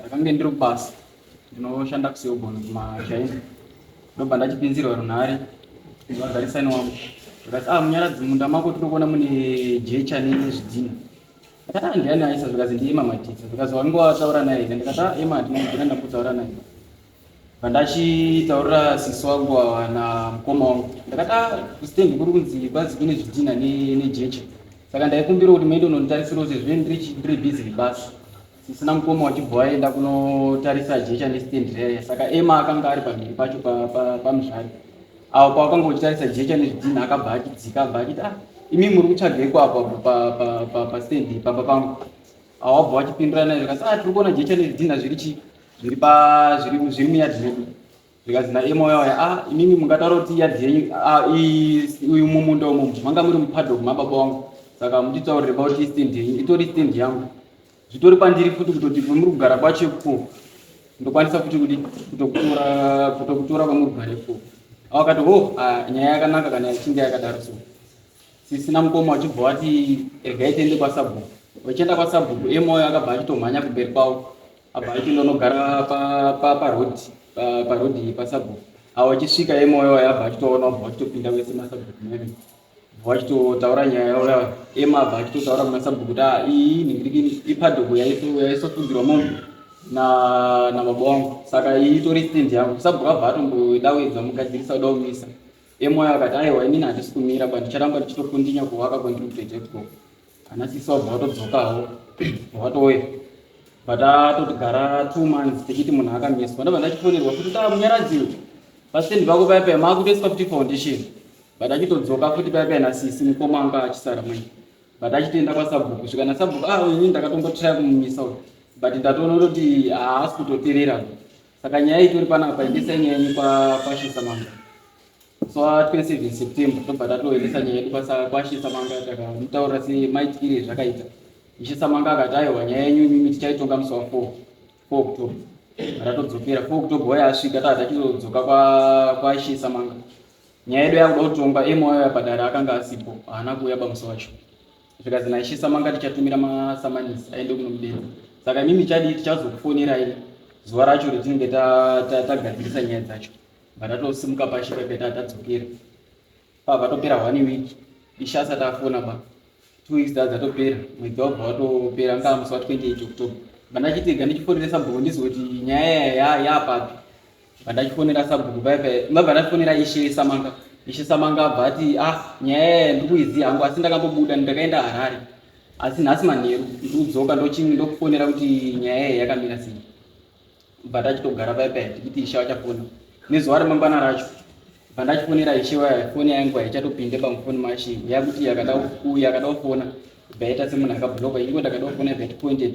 ndakange ndiri kubasa ndinoshanda kuselbon kumachina ndobva ndachipinzirwa runhare vagarisani wangu zvikati ah munyaradzi munda mako tiri kuona mune jecha nezvidhina ndikati ah ndiani aisa zvikazi ndiye mamatisa zvikazi wange wataura naye here ndikati ah ema ndinogona ndakutaura naye pandachitaurira sisi wangu awana mukoma wangu ndikati ah kusitendi kuri kunzi kwazi kune zvidhina nejecha saka ndaikumbira kuti maende unonditarisira kuti zve ndiri busy nebasa tisina mukoma wachibva aenda kunotarisa jecha nestand raiya saka ema akanga ari pamhiri pacho pamuzvari apo pawakanga uchitarisa jecha nezvidhina akabva achidzika abva achiti ah imi muri kutsvageko apa pastand pamba pangu awabva wachipindura naye zvikati ah tiri kuona jecha nezvidhina zviri chii zviri muyadhi medu zvikanzi naEma uya uya ah inini mungataura kuti yadhi yenyu ah i- uyu mumunda umu manga muri mupadhock mababa wangu saka munditaurire about istand yenyu itori stand yangu zvitori pandiri futi kutoti kwemuri kugara kwacho ikuko ndokwanisa futi kuti kutokutora kutokutora kwemuri kugara ikuko awakati ho ah, nyaya yakanaka kana yachinge yakadaro so sisina mukoma wachibva wati regai tiende kwasabhuku vachienda kwasabhuku emoyo akabva achitomhanya kumberi kwavo apa aipinda unogara paroad paroad pasabhuku awo achisvika emoyo wayo abva achitoona ubva achitopinda wese masabhuku mene ubva achitotaura nyaya yauya ema abva achitotaura kumasabhuku kuti ah, iyi ningirikini ipadhogo yaisofugirwa mombe namabo wangu saka iyi itori stand yangu sabhuku abva atombodawedza mugadzirisa uda kumisa emoyo akati aiwa inini handisi kumira ba ndicharamba ndichitokundinya kuwaka kwendiri kutoita ikoko Kana sisi wabva watodzokawo watouya but atotigara two months tichiti munhu akamiswa ndabva ndachifonerwa kuti taa munyaradziwe pastendi pako paya paya maakutoiswa kuti foundation but achitodzoka futi paya paya nasisi mukoma anga achisara mwenye but achitoenda kwasabhuku svika nasabhuku ah ini ndakatombotraya kumumisa uyu but ndatoona kuti haasi kutoterera Saka nyaya iyi tori panapa endesai nyaya yenyu kwashisa manga so 27 september tobva tatoendesa nyaya yedu kwashisa manga takamutaurira se maitikire zvakaita ishisa manga akati aiwa nyaya yenyu imimi tichaitonga musi wa 4 4 october ratadzokera 4 october waya asvika taa tachizodzoka kwashisa manga nyaya yedu yakuda kutongwa emoyo yapadare akanga asipo haana kuuya bamusi wacho zvikanzi naishisa manga tichatumira masamanisi aende kunomudedza saka imimi chadii tichazokufonerai zuva racho retinenge tagadzirisa nyaya dzacho vatatosimuka pashi pakaita tadzokera pa vatopera one week isha asati afona ba two weeks dza dzatopera mwedzi wabva watopera ngaa musi wa 28 october bandachitiga ndichifoneresa bhoko ndizoti nyaya yayayapapi Pandachifonera sabhuku paya paya, mabva ndachifonera Ishe Samanga. Ishe Samanga abva ati, ah, nyaya yaya ndiri kuiziva hangu, asi ndakambobuda ndakaenda Harare. Asi nhasi manheru ndiri kudzoka ndochini ndokufonera kuti nyaya yaya yakamira sei. Bva tachitogara paya paya tichiti Ishe vachafona. Nezuva remangwana racho, bva ndachifonera Ishe waya, foni yangu haichatopinde pamufoni maShe. Yakuti yakada ku- yakada kufona, bva yaita semunhu akabloka, ingo ndakada kufona bva yatipointed,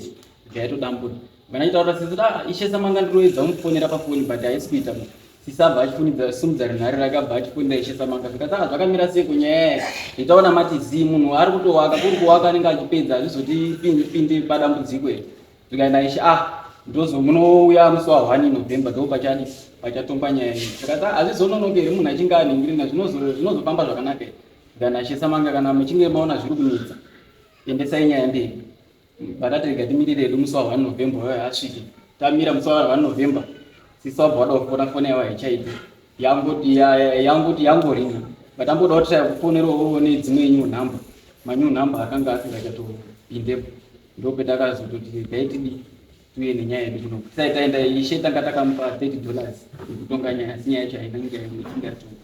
bva yatodambura. Kana achitaura sisi da ah, ishe samanga ndiroedza kumufonera pafoni but haisi kuita mu. Sisi abva achifunidza simudza runhare rake abva achifonera ishe samanga zvikati ah zvakamira sei kunyaya nditaona mati zii munhu ari kutowaka kuri kuwaka anenge achipedza hazvizotipinde padambudziko here zvikaenda ishe ah ndozo munouya musi wa one november ndo pachani pachatongwa nyaya iyi zvikati ah hazvizononoke here munhu achinge aningirina zvinozo- zvinozofamba zvakanaka here zvikana ishe samanga kana muchinge maona zviri kunetsa endesai nyaya mberi Vakati rega timirire hedu musi wa 1 November wayo asvike. Tamira musi wa 1 November sisi wabva wada kufona foni yavo haichaiti yangoti yangoti yangoringa but amboda kuti taya kufonera uone dzimwe new number manew number akanga asingachatopindepo ndopetakazototi taitidi tuye nenyaya yedu kuno sai taenda ishe tanga takamupa 30 dollars yekutonga nyaya asi nyaya yacho haina nyaya yatingatonga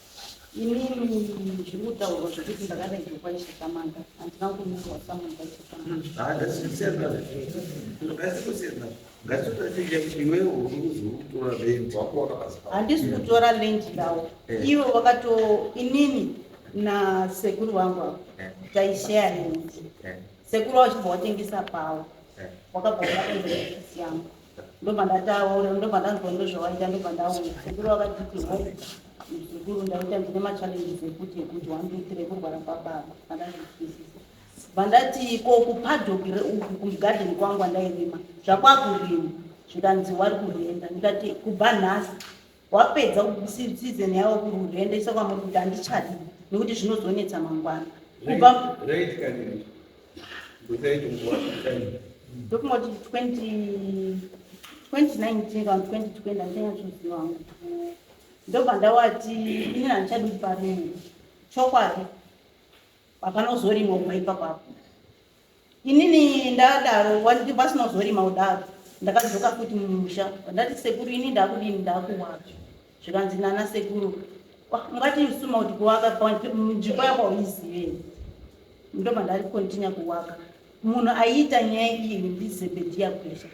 Inini zviri kutaurwa zvekuti ndakadairwa kwaishatamanga handina kunyorwa samanga handisi kutora land ndawo eh. ivo vakato inini nasekuru vangu avo eh. taishaya land eh. sekuru vachibva watengesa pawo wakabva wakaendaisiyangu ndobva ndataura ndobva ndanzwa ndozvawaita ndobva ndauya sekuru vakatiti ho muzukuru ndaita ndine machallenges ekuti ekuti one two three kurwara kwababa andazvitwisisa vandati ko kupadhokire uku kugarden kwangu andairima zvakwakurima zvikanzi wari kurenda ndikati kubva nhasi wapedza season yavo kururende iso kwamuri kuti handichadi nekuti zvinozonetsa mangwana kubva ndokumoti 2019 kana 2020 handichanyatsozviva hangu ndobva ndawati ini handichadi kuti parimwe chokwadi hapana uzorimwa kubva ipapapo Inini ndadaro wandi pasina zorima kudaro ndakadzoka futi mumusha ndati sekuru ini ndakudini ndakuwaka zvikanzi nana sekuru ungati usuma kuti kuwaka nzvimbo yako uizivei ndobva ndari kontinya kuwaka munhu aiita nyaya iyi ndizebediya gwesha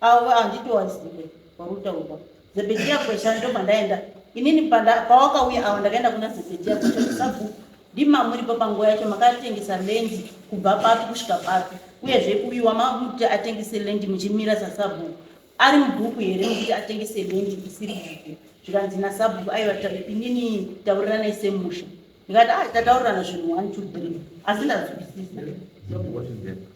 avo handitowazive kwautaurwa zebhedhiya kwesha ndo kwandaenda inini pawakauya awa ndakaenda kuna zebhedhiya kwesha kusabhuku ndima muripo panguva yacho makatengesa lendi kubva papi kusvika papi uyezve uyu wamakuti atengese lendi muchimira sasabhuku ari mubhuku here mukuti atengese lendi isiri bhuku zvikanzi nasabhuku aiva inini tauriranai semusha ndikati ah tataurirana zvinhu one two three asi ndazwisisa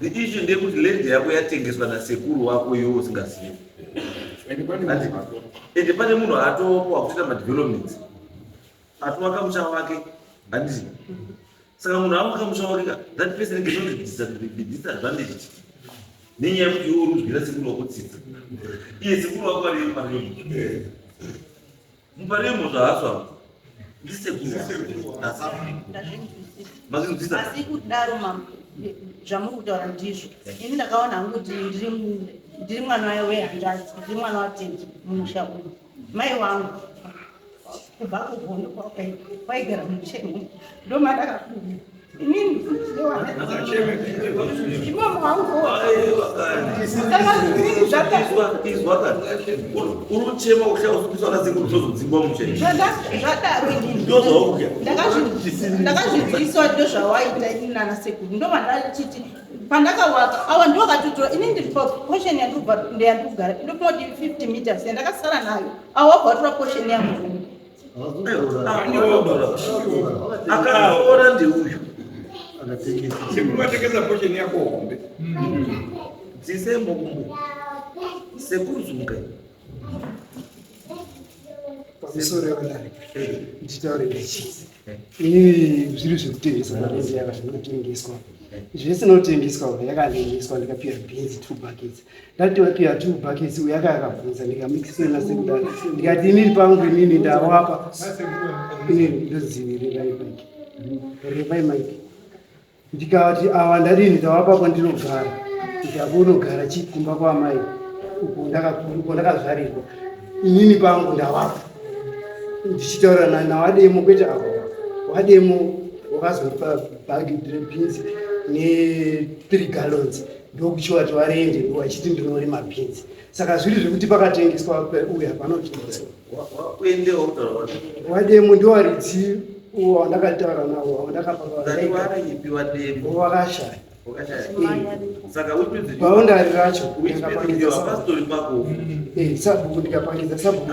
The issue ndeyekuti land yako yatengeswa nasekuru wako iwe usingazivi. And pane Ati- munhu ato- ende pane munhu atopo wakutoita madevelopments atovaka musha wake handiti saka munhu avaka musha wake ka that person cannot be dis- be disadvantaged nenyaya yekuti iwe uri kuzwira sekuru wako tsitsi iye sekuru wako ariyo pari Muparemo zvahaso hapo. Ndisekuru. Mazinzisa. Asi kudaro mama zvamuri kutaura ndizvo. Ini ndakaona hangu kuti ndiri ndiri mwana wayo wehandazi, ndiri mwana watendi mumusha uyu. Mai wangu kubva kuhondo kwaigara mumusha uyu. Ndomandakakuda. unochema uchausukiswa nasekuru tozodzingwa muchendakazvinzwiswa ndo zvawaita ini nana sekuru ndo vandachiti pandakawaka awa ndo vakatotora ini ndiri potion yandiyandikugara ndopoti 50 meters yandakasara nayo awa wakatora potion yangu akaora ndeuyu sekuvatengesa posheni yako hombe dzisembokumbu sekuzunga zviri zvekutengesa mareziaka zvinotengeswa zvese notengeswa yakatengeswa ndikapira bhinzi two buckets Ndati wati you are two buckets uya ka akabvunza ndikamixela sekudaro ndikati inini pangu inini ndawapa inini ndodzivirira ibike repai mike ndikati awa ndadini tawapa kwandinogara ndikati unogara chii kumba kwaamai uko ndakakuru uko ndakazvarirwa inini pangu ndawapa ndichitaura na- nawademo kwete awa wademo wakazopa bhagi rebhinzi ne three gallons ndokuchiwa chiwarenje wachiti ndinorima beans saka zviri zvekuti pakatengeswa uya panowademo ndowaridzi uwo wandakataura nawo wandakapaaakashaya paundari racho sabhuku ndikapangidza sabhuku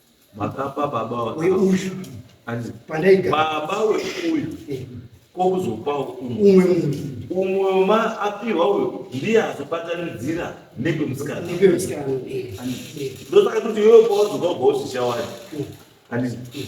makapa baba uyu baba weuyu eh. kokuzopawo umwe umwe ma apiwa uyo ndiye azobatanidzira nekwemusikana eh. ndosaka kuti iwewe pawazoka ugawo zvichawani eh.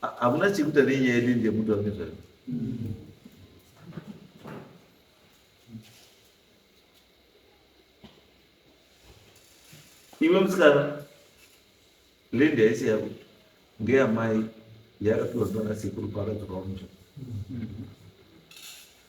Ha- hamuna chekuita nenyaya yedu ndiye mutu wake zvayo iwe musikana lendi haisi yako ngeyamai yakapiwa ndiana sekuru paakadzoka wamusha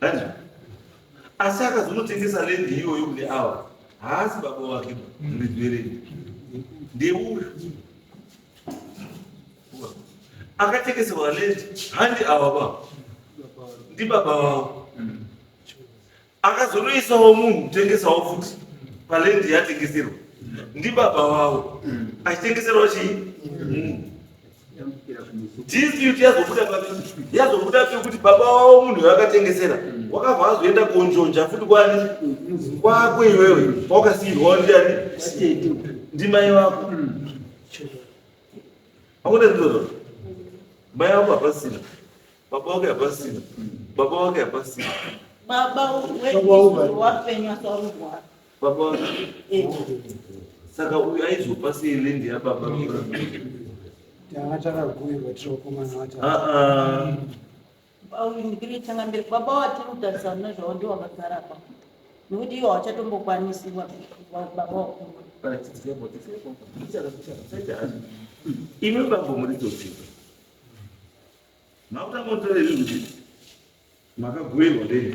Hanzi, asi akazonotengesa lendi iyoyo kune ava haasi baba wake ndizverei ndeuyu akatengeserwa lendi handi ava baba ndibaba vavo akazonoisawo munhu kutengesawo futi palendi yatengeserwa ndibaba vavo achitengeserwa chii munhu dispute yazobuda pavekuti yazobuda pekuti baba wavo munhu yakatengesera wakabva azoenda konjonja futi kwani kwako iwewe kwawakasiirwa ndiani ndimai vako akuda ndizvozvo mai vako hapasina baba wake hapasina baba wake hapasina baba wewapenywa saurwara Baba saka uyu aizopa sei land yababa tanga takagurirwa tiri vakomana vata auyungire tanga mberi baba watiri kutarisana nezvavo ndiwo vakagara pa nekuti iwo hawachatombokwanisi baba wakuru imi bambo muri todzidza makutanga kutaura izvi kuti makagurirwa ndei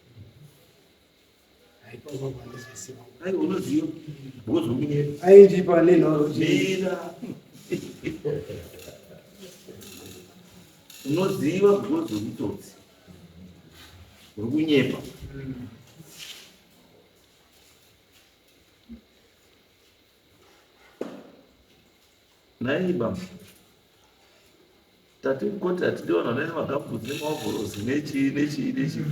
aindipa nenhoro unoziva because of itsotsi uri kunyepa Nai baba. Tati koti atidi vanhu vanoenda magambutsi nemaovhorosi nechii nechii nechii.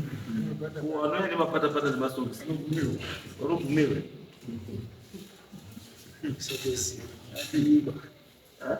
Kuwana ine mapatapata nemasokisi. Vanobvumirwa. Sekesi. Atidiba. Ha?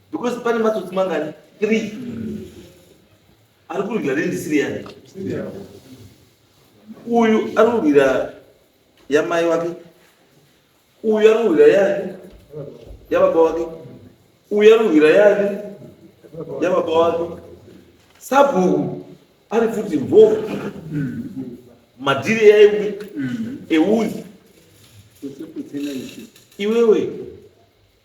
because pane matsotsi mangani three ari kurwira rendi siriyani uyu ari kurwira yamai wake uyu ari kurwira yani yababa wake uyu ari kurwira yani yababa wake sabhuku ari futi mhofu madhiri yaiwi euzi iwewe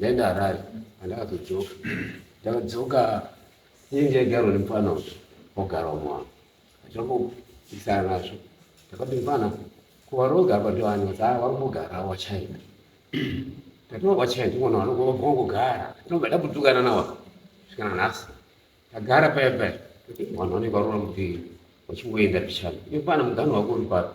Then arai andakazodzoka ndakadzoka ini ndaigarwa nemufana uyu ogarwa mwana achiramboisana nazvo ndakati mfana kuvaroga apa ndivani kuti haa varikugara wachina ndatiwa wachina ndivona vanongogara tinobva ndabutukana nawa svikana nhasi ndagara paya paya vanhu vanenge varora mupiri vachingoenda pichana imfana mugano wako uri papi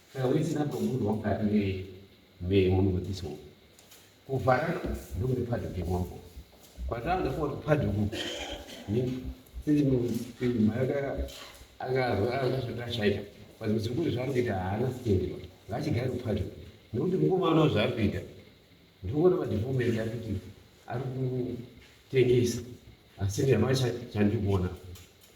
Saka wese number munhu wakati ne me munhu wekisi wo. Kuvhara ndokune padyo kemambo. Kwatanga kwa padyo ku. Ni sisi mu sisi mayaka anga akazvita shaita. Pazvo zvikuru zvakuita haana sitendero. Ngachigare padyo. Nekuti mukoma uno zvakuita. Ndikuona madivomenti akuti ari kutengesa. Asi ndiyamacha chandikuona.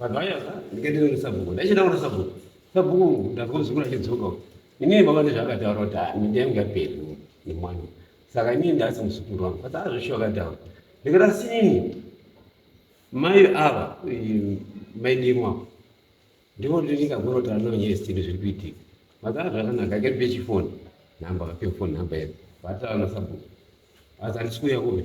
Vanhu vaya ndikatenda kuna sabhuku. Ndaichenda kuna sabhuku. Sabhuku ndakuzungura chidzoka. Inini baba ndezvakataura kuti ah, minde yangu yaperi nemwana. Saka inini ndasi musukuru wangu. Asi azvisho akataura. Ndikati sinini mai ava eh, mai dimwa ndivo ndikagorota anonyesi tinhu zviri kuitika. Mazara zvakanaka akati pechifoni. Namba kape phone number yedu. Vatava na sabhuku. Asi andisi kuya kuve.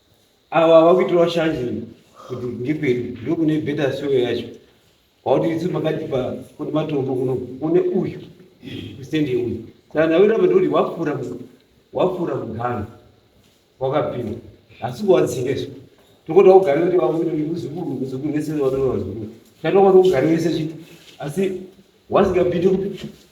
Awa ah, vakuitirwa shanje kuti ngekwedu ndokune beta soyo yacho wakuti isu makatipa kune matombo kuno kune uyu kusende uyu kana wiramba ndikuti wapfuura wapfuura mugano wakapinda asi kuwadzingeswa tokuti wakugara kuti vamuzukuru muzukuru vese vanova vazukuru kana wakati wakugara vese chii asi wasingapindi kuti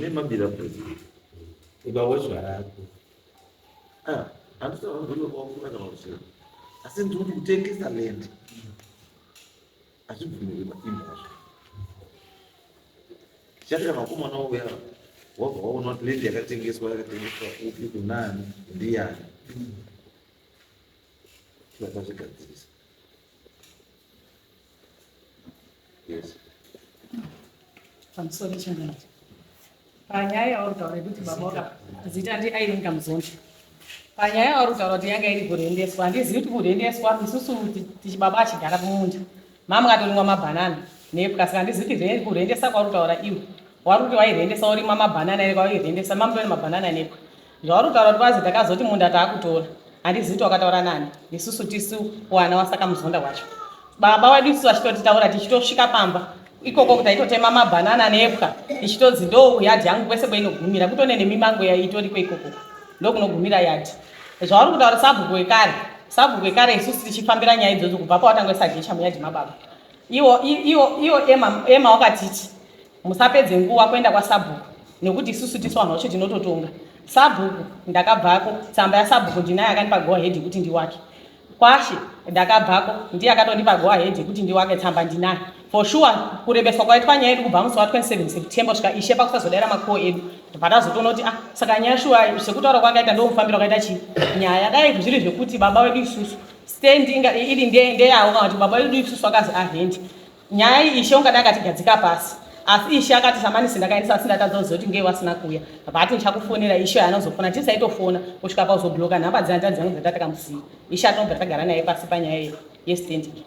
nemabira kuti ukawachwa rako andisaaunokwaufuna kana kuchera asi ndikuti kutengesa land azvibvumirwe maimba azvo chati kana vakomana wauya wabva waona kuti land yakatengeswa yakatengeswa upi kunani ndiyani vakazvigadzirisa Yes. I'm sorry, Chairman. Panyaya yauri kutaura yekuti baba waka zita ndi Irene Kamuzonda. Panyaya yauri kutaura kuti yanga iri kurendeswa, handizivi kuti kurendeswa isusu tichibaba achigara kumunda. Mama katorimwa mabhanana nepwa saka handizivi kuti kurendesa kwauri kutaura iwe. Wari kuti wairendesa worimwa mabhanana ere kwawairendesa mama tone mabhanana nepwa. Zvauri kutaura kuti kwazi takazoti munda taakutora. Handizivi kuti wakataura nani. Isusu tisu wana wasaka muzonda wacho. Baba wedu isusu vachitotitaura tichitosvika pamba. Ikoko taitotema mabanana nepwa tichitodzi ndoo kuyadhi yangu kwese kwainogumira kutone nemimango yaitoriko ikoko ndokunogumira yadhi. Zvauri kutaura sabhuku wekare sabhuku wekare isusu tichifambira nyaya idzodzo kubva pawatangoisa jecha muyadhi mababa. Iwo iwo iwo Emma Emma wakatiti Musapedze nguva kuenda kwasabhuku nekuti isusu tisu vanhu vacho tinototonga. Sabhuku ndakabvako tsamba yasabhuku ndinaye akandipa go ahead yekuti ndiwake. Kwashe ndakabvako ndiye akatondipa go ahead yekuti ndiwake tsamba ndinaye. For sure kurebeswa kwaitwa nyaya yedu kubva musi wa 27 September kusvika ishe pakusazodaira makuwo edu patazotoona kuti ah saka nyaya shuwa sekutaura kwakaita ndomufambiro wakaita chii nyaya dai zviri zvekuti baba wedu isusu stand inga iri ndeyavo kana kuti baba wedu isusu akazi ahendi Nyaya iyi Ishe ungada akatigadzika pasi asi Ishe akati samanisi ndakaendesa asi ndatadza kuziva kuti ngei wasina kuuya vati ndichakufonera Ishe anozofona tisaitofona kusvika pauzobloka nhamba dzina tanzi yangu dzatakamusiya Ishe atinobva tagara naye pasi panyaya iyi yestending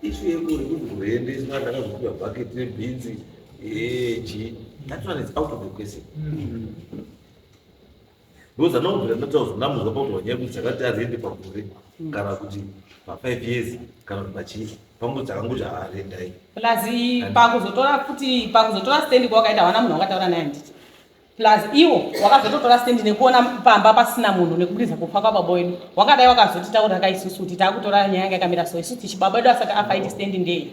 ishu yekuri kuti kuendeswa ndakazopiwa bhaketi rebhinzi eji that one is out of the question mm -hmm. because anobvira ndataurwa ndamuza pautaura nyaya kuti dzakati arende pagore mm. kana kuti pafive years kana kuti pachii pangu dzakanguti haarendai plus pakuzotora kuti pakuzotora stand kwawakaenda hawana munhu wakataura naye handiti plus iwo wakazototora stand nekuona pamba pasina munhu nekubudisa kufa kwababa wedu wakadai wakazotitaura ka isusu kuti taakutora nyaya yanga yakamira so isusu tichi baba wedu asati afa iti stand ndei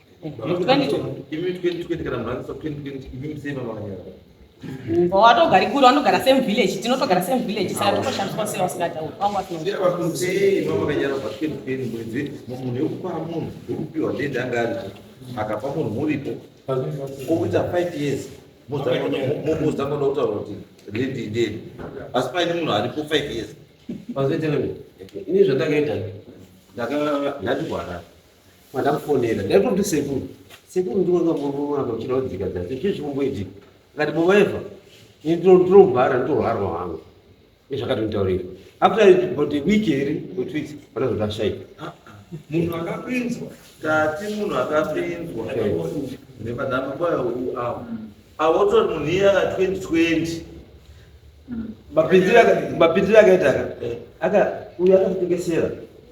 watogari kure wanogara same village tinotogara same village saka tokoshandiswa sei wasingatauri akapa munhu muripo okuita five years mozangoda kutaura kuti lady deni asi paine munhu aripo five years pazoitei ini zvatakaita ndati kuharara Mandakufonera. Ndaitoti sekuru. Sekuru ndiwe ngamurumwa apa uchida kudzika dzati. Chii chikumboitika? Ngati mumaiva. Ini ndinombara ndinoharwa hangu. Izvakatonitaurira. After about a week here or two weeks vanozoda shaika. Ah, ah. Munhu akapinzwa. Tati munhu akapinzwa. Nepadama kwaya uyu awo. Awotori munhu iye aka 2020. Mapinzira akaita aka. Eh. Aka uyu akakutengesera.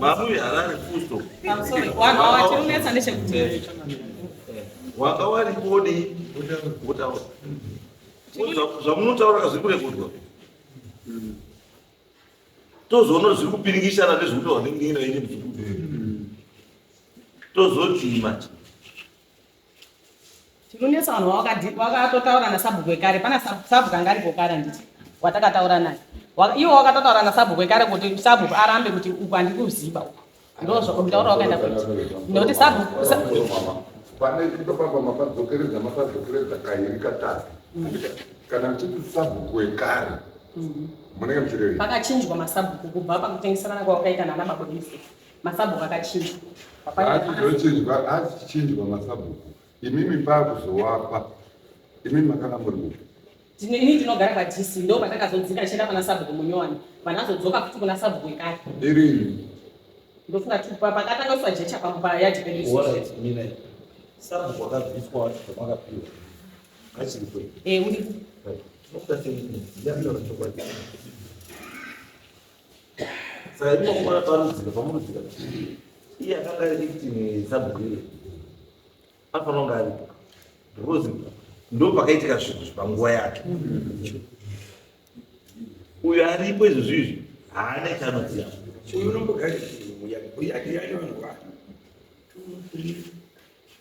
Babu yarari fusto. I'm sorry. Waka wati unetsa ndechekuti. Eh. Waka wari kodi kutaura. Zvamunotaura kazvi kure kudwa. Tozoona zviri kupiringishana nezvekuti wanenge ina ine muzukuru. Tozoti manje. Chinonetsa vanhu wakatotaura nasabhuku wekare pana sabhuku anga aripo kare handiti watakataura naye iwo wakatotaura nasabhuku wekare kuti sabhuku arambe kuti uku handikuziba uku ndozvakutaura wakaenda kuti nokuti sabhuku pane kutopamba mapadzokeredza mapadzokeredza kairi katatu kana muchiti sabhuku wekare munenge muchirevei pakachinjwa masabhuku kubva pakutengeserana kwawakaita nana mabodisi Masabhuku akachinjwa. Atizochinjwa, atichinjwa masabhuku. Imimi pakuzowapa. Imimi makanga muri kupi? Ini ndinogara kwaDC ndo kwatakazodzika tichienda pana sabhuku munyowani. Vanazodzoka futi kuna sabhuku ekare. Irini. Ndofunga kuti pakatanga kuswa jecha pamupa yadhi pedu. What is meaning? Sabhuku akabviswa wacho kwamakapiwa. Achiri kwe. Eh, uri. Right. What does it mean? Ndiyamira chokwadi. saka imokuona parudzika pamurudzika iye akanga ari victim yesabhuire anofanira kunge aripo because ndo pakaitika zvinhu zvepanguva yake uyo aripo izvo zviizvi haana chaanoziva uyu unombogarii yake yake vanhu vake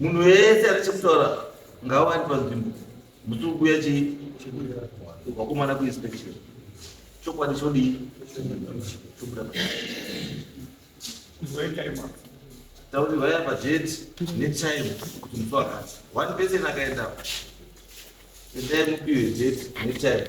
Munhu wese ane chekutaura ngawa ari panzvimbo musi ukuya chii wakomana kuinspection chokwadi chodii chobuda tauri vaya pageti netime kuti musi wakati one person akaendapo endai mupiwe geti netime